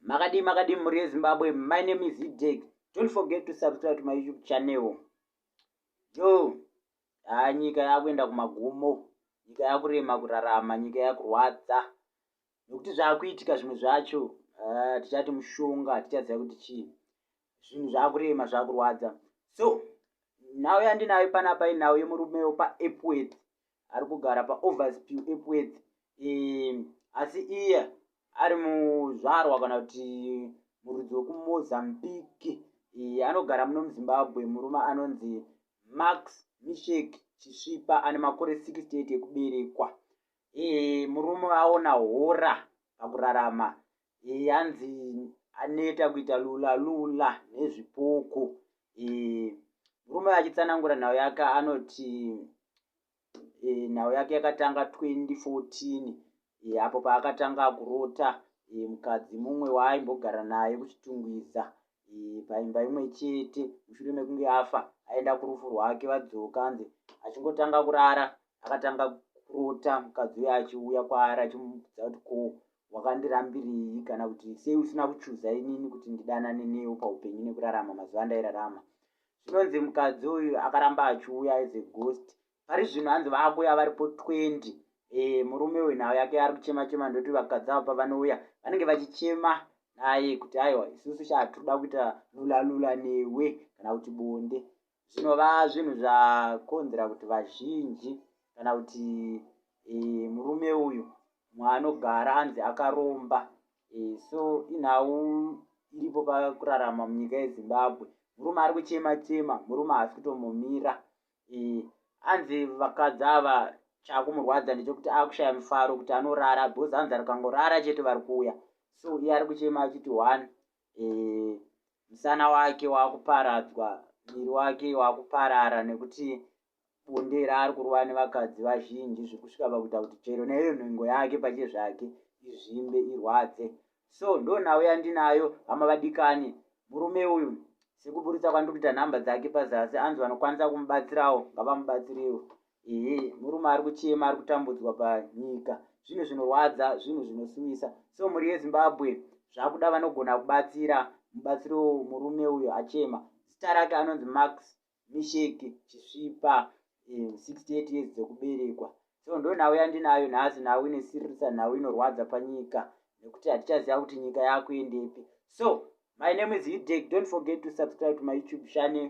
makadii makadii mhuri yezimbabwe my name is ideg don't forget to subscribe to my youtube channel jo haa ah, nyika yakuenda kumagumo nyika yakurema kurarama nyika yakurwadza nekuti zvakuitika zvimwe zvacho ah, tichati mushonga tichaziva kuti chii zvinhu zvakurema zvakurwadza so nhau yandinayo panapa inhau yemurume wepa epworth ari kugara paovers pew epweth ehm, asi iye ari muzvarwa kana kuti murudzi wekumozambique ehm, anogara muno muzimbabwe murume anonzi max mishek chisvipa ane makore 68 ekuberekwa ehm, murume aona hora pakurarama e, hanzi aneta kuita lula lula nezvipoko e, murume achitsanangura nhau yake anoti e, nhau yake yakatanga 2014 e, apo paakatanga kurota e, mukadzi mumwe waaimbogara naye kuchitungwiza e, paimba imwe chete mushure mekunge afa aenda kurufu rwake vadzoka anzi achingotanga kurara akatanga kurota mukadzi uyo achiuya kwaari achimuudza kuti ko wakandirambirii kana kuti sei usina kuchuza inini kuti ndidanane newo paupenyu nekurarama mazuva andairarama zvinonzi mukadzi uyu akaramba achiuya as a ghost pari zvinhu hanzi vaakuuya varipo 20 e, murume uyu nhau yake ari kuchema chema ndoti vakadzi avo pavanouya vanenge vachichema naye kuti aiwa isusu shaa tiri kuda kuita lulalula newe kana kuti bonde zvinova zvinhu zvakonzera kuti vazhinji kana kuti e, murume uyu mwaanogara anzi akaromba e, so inhau iripo pakurarama munyika yezimbabwe murume ari kuchema chema murume haasi kutombomira e, anzi vakadzi ava chakumurwadza ndechokuti akushaya mufaro kuti anorara bcause anzi arikangorara chete vari kuuya so iye ari kuchema achiti one eh, musana wake wakuparadzwa muviri wake wakuparara nekuti bonde raari kurova nevakadzi vazhinji zvekusvika pakuita kuti chero neiyo nhengo yake pache zvake izvimbe irwadze so ndo nhau yandinayo hama vadikani murume uyu sekuburitsa kwandiri kuita nhamba dzake pazasi anzi vanokwanisa kumubatsirawo ngavamubatsiriwo Ehe murume ari kuchema ari kutambudzwa panyika zvinhu zvinorwadza zvinhu zvinosuwisa so mhuri yezimbabwe zvakuda vanogona kubatsira mubatsiro murume uyo achema zita rake anonzi max misheki chisvipa 68 eh, years dzekuberekwa so ndo nhau yandinayo nhasi nhau inesiririsa nhau inorwadza panyika nekuti hatichaziva kuti nyika yakuendepi so my name is hidek don't forget to subscribe to my youtube channel